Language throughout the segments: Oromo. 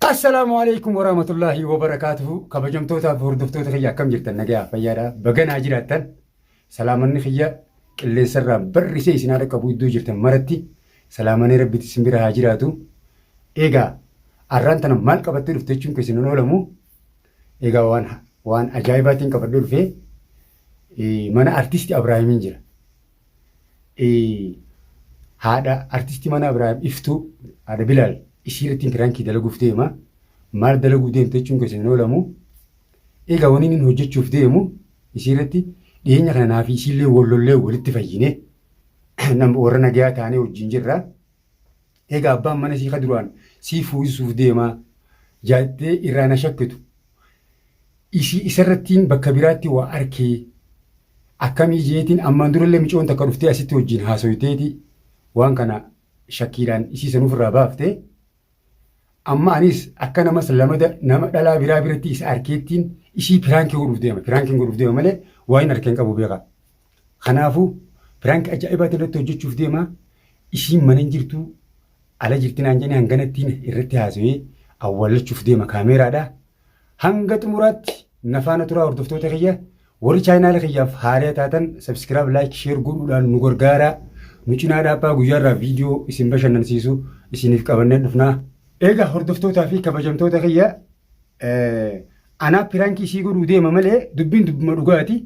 Assalaamu alaikum warahmatullaahi wabarakaatuhu kabajamtootaaf hordoftoota kiyya akkam jirtan nagayaa fayyaadha baganaa jiraattan salaamanni kiyya qilleensarraa barrisee isin haadha qabu iddoo jirtan maratti salaamanee rabbitti isin bira haa jiraatu egaa arraan tana maal qabattee dhufte jechuun keessan hin oolamu egaa waan waan ajaa'ibaatiin qabadhee dhufee mana artisti Abraahimiin jira haadha artistii mana Abiraam Iftuu haadha Bilaal ishii irratti pirankii dalaguuf deema. Maal dalaguuf deemte jechuun keessa hin oolamu. Egaa wanni inni hojjechuuf deemu ishii irratti dhiyeenya kana naa fi ishiillee wallollee walitti fayyine warra nagayaa taanee wajjin jirra. Egaa abbaan mana isii ka duraan sii fuusisuuf deemaa jaattee irraa na shakkitu. Isii isarrattiin bakka biraatti waa arkee akkamii jeetiin ammaan durallee micoon takka dhuftee asitti wajjin haasoyteeti waan kana shakkiidhaan isii sanuuf irraa baaftee Amma anis akka namas lama da- nama dhalaa biraa biratti isa arkeettiin ishii piraankii godhuuf deema. Piraankiin godhuuf deema malee waa hin arkeen qabu beekaa. Kanaafuu piraank ajaa'ibaa irratti hojjechuuf deema. Ishiin mana hin jirtu ala jirti naan jedhanii hanganattiin irratti haasawee awwaallachuuf deema kaameeraadha. Hanga xumuraatti na faana turaa hordoftoota kiyya. Warri chaayinaala kiyyaaf haaree taatan sabskiraab laayik sheer godhuudhaan nu gargaaraa. Nu cinaa dhaabbaa guyyaarraa viidiyoo isin bashannansiisu isiniif qabannee dhufnaa. Eegaa hordoftootaa fi kabajamtoota kiyya anaa piraankii isii godhuu deema malee dubbiin dubbuma dhugaati.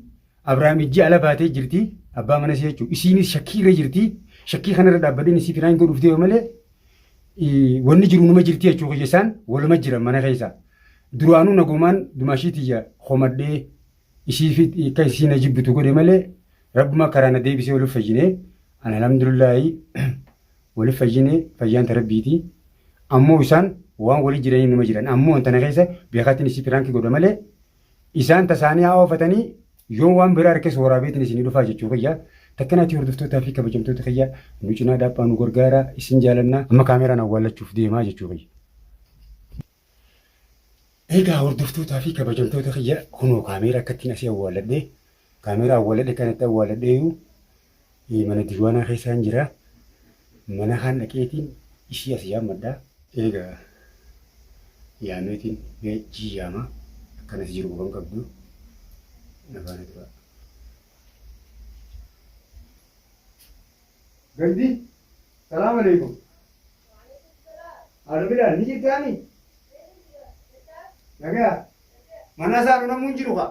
Abrahaam ijji ala baatee jirti abbaa mana isii jechuudha. Isiinis shakkii irra jirti. Shakkii kanarra dhaabbadheen isii piraankii godhuuf deema malee wanni jiru numa jirti jechuu kiyya isaan waluma jiran mana keessa. Duraanuu nagumaan dumaashii tiyya homadhee isiif akka isiin na jibbitu godhe malee rabbuma karaa na deebisee waliif fayyinee an alhamdulillaahi waliif fayyinee fayyaan tarabbiiti. Ammoo isaan waan walii jiranii numa jiran ammoo wanta na keessa beekaatiin isii piraankii godha malee Isaan tasaanii haa oofatanii yoo waan biraa harkes waraabeetiin isinii dhufaa jechuu kiyya. Takkanaatii hordoftootaa fi kabajamtoota kiyya nu cinaa dhaabaa nu gargaaraa isin jaalannaa amma kaameeraan awwaallachuuf deemaa jechuu kiyya. Egaa hordoftootaa fi kabajamtoota kiyya kunoo kaameera akkattiin asii awwaalladhee Kaameeraa awwaaladhe kan itti awwaaladheeyyuu eh, mana diiwaanaa keessaan jira. Mana kaan dhaqeetiin ishii as yaammadha. Eega yaameetiin mee ishii yaama. Kan as jiru quba hin qabdu. Na faana tura. Gandi, salaam alaikum. Haadha Bilaal ni jirtaani? Nagaa? Mana isaa namuu hin jiru kaa?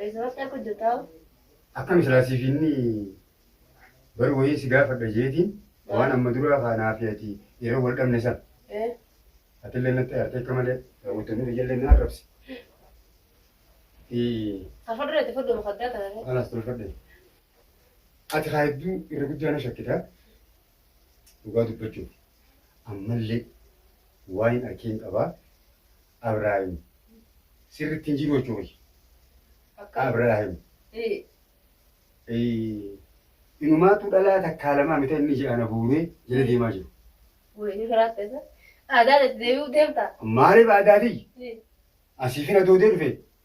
Reezoortii akka hojjetaa Akkam silaa siif inni bar wayii si gaafadha jeetiin waan amma duraa kaanaa fi ati yeroo wal dhabne san ee atillee natti aartee akka malee raawwattoonni biyyallee na arrabse. Ee, tafadhura itti fudhu mukaddaa taate. Alaas tolfadhe. Ati haa hedduu irra guddaa na shakkita. Dhugaa dubbachuuf. Ammallee waan hin arkiin qabaa. Abraahim sirritti hin jiru jechuu kiyya. Akka Abraahim ee eh, inumaatu dhalaa takkaa lamaa mita inni ija ana buuree jala deemaa jiru. wayii firaas ta'e aadaan itti deebi'uu deemta. Maaliif aadaa tiyya? Ee. Asiifin adoodee dhufe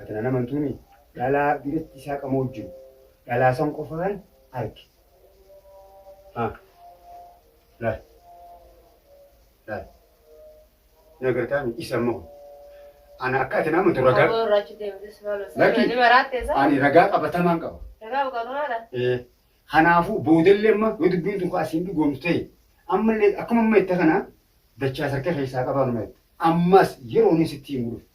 Ati nan amantuuni? Dhalaa biratti isaa qamoo jiru. Dhalaa san qofaan arge. Haa. Laal. Laal. Ni agartaa mi? Isa immoo. Ana akka ati na amantu ragaa. Aboo irraa achi deemte si maal hojjeta? Lakki. Ni maraattee isaa? Ani ragaa qabatamaan qaba. Ragaa buqaatumaadha. Ee, Kanaafuu boodallee amma yoo dubbiin tokko asiin dhugoomtu ta'e ammallee akkuma amma jette kana dachaa sarka keessaa qabaanuma jette. Ammas yeroo inni sitti himu dhufu.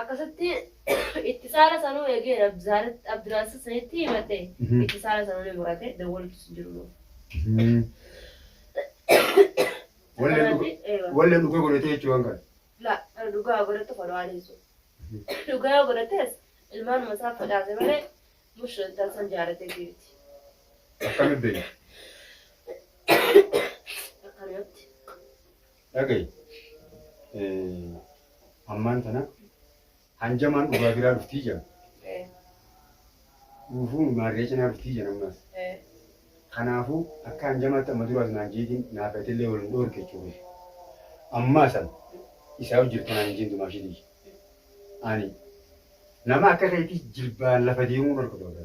Akkasitti itti saala sanuu eegee Abdulzaarat- Abdulaaziz sanitti himadhe. Mhm. Itti saala sanuu ni murate. Dawwaltus hin jiru. Mhm. Walleen Kanaan dhuga- ni- eewa. walleen dhugaa godhatee jechuun waan kana. La, kan dhugaa godhatu kan waan ibsu. Dhugaa yoo godhates ilmaan masaa fadhaate malee mushra intal san jaalatee jirti. Akkamitti beekna? Akkanumatti. Dhagayi, ammaan tana hanjamaan dhugaa biraa dhuftii jedhan. Dhuufuu maarree cinaa dhuftii jedhan ammas. Kanaafuu akka hanjamaatti amma duraas naan jeetiin naaf illee wal hin dhoorke jechuudha. Ammaa san isaa hojjetu kanaan hin jeentu maashitii. Ani nama akka keetii jilbaan lafa deemuu hin argu ta'udha.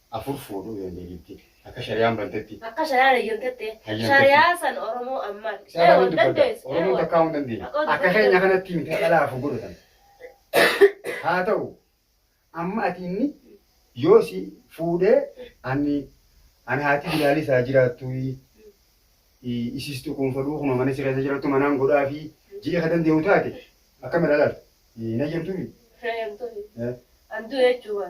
afur fuudhuu dandeetti. Akka shariyaan bantetti. Akka shariyaan hayyamtetti. Shariyaa san Oromoo ammaan. Isaa hin dubbadda. Oromoo takkaa hin dandeenye. Akka keenya kanatti miti dhalaa afur godhatan. Haa ta'u amma ati inni yoo si fuudhee ani ani haati bilaalii isaa jiraattu isistu kun fadhuu kuma mana si keessa jiraattu manaan godhaa fi ji'a ka dandeenyu taate akkam ilaalal hin hayyamtuufi. Hin hayyamtuufi. Anduu jechuudha.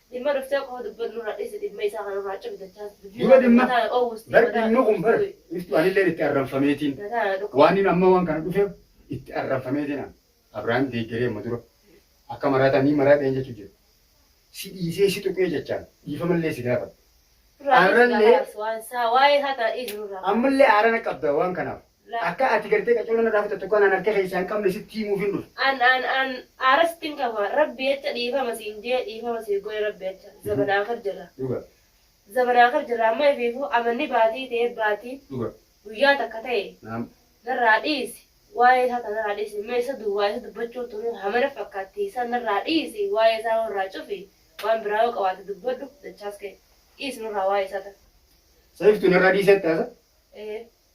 Dhimma dhuftee qofa dubbannu irraa dhiisi dhimma isaa kana irraa cimi dachaan. Dura dhimma bar dhimma kun bar iftu anillee itti arranfameetiin waan inni amma waan kana dhufeef itti arranfameetiin an Abrahaam deeggaree amma dura akka maraataa ni maraadheen jechuu jira. Si dhiisee si tuqee jechaan dhiifamallee si gaafata. Arrallee ammallee aarana qabda waan kanaaf Akka ati gartee qaccoola narraa fudhattu akka anaan harka keessaa hin qabne sitti himuufin dhufe. An an an aara sitti hin kafa rabbi jecha dhiifama siin jee dhiifama siif godhe rabbi jecha zabanaa kar jirra. Dhuga. Zabanaa kar jirra amma ifiifuu amanni baatii ta'e baatii Dhuga. guyyaa takka ta'e Naam. narraa dhiisi waa'ee isaa ta narraa dhiisi mee isa duwwaa isa dubbachuun tunuu hamana fakkaatti isa narraa dhiisi waa'ee isaa warraa cufi waan biraa yoo qabaate dubbadhu dachaas kee dhiisi nurraa waa'ee isaa ta. Sayiftu narraa dhiisetti haasa. Ee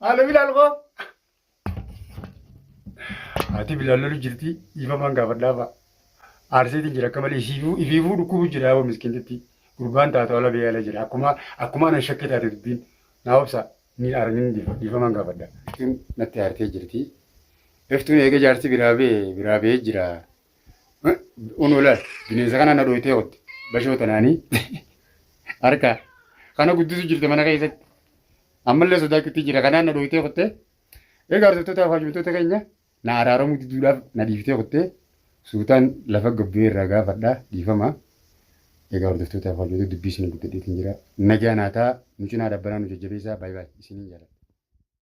Maaloo bilaal koo. Haati bilaal lolu jirti dhiifamaan gaafadhaa fa'a. Aarseetiin jira akka malee isiifuu ifiifuu dhukkubuu jira yaaboo miskiintitti. Gurbaan taatu ala bee ala jira akkuma akkuma anan shakkee taate dubbiin naa obsa ni argin dhiifamaan gaafadha. Iftuun natti aartee jirti. Iftuun eega jaarsi biraa bee biraa bee jira. Unu laal bineensa kana na dhooytee ootte bashoo tanaanii harka kana guddisu jirte mana keessatti. Ammallee sodaachuutti jira kanaan na dhooytee kuttee. Egaa arsiftootaa fi hajumtoota keenya na araaramuu diduudhaaf na dhiiftee kuttee suutaan lafa gabbee irraa gaafadha dhiifama. Egaa hordoftootaa fi hajumtoota dubbii isin guddadheetiin jira. Nagaa naataa nu cinaa dhabbanaa nu jajjabeessaa baay'ee baay'ee isiniin jaalladha.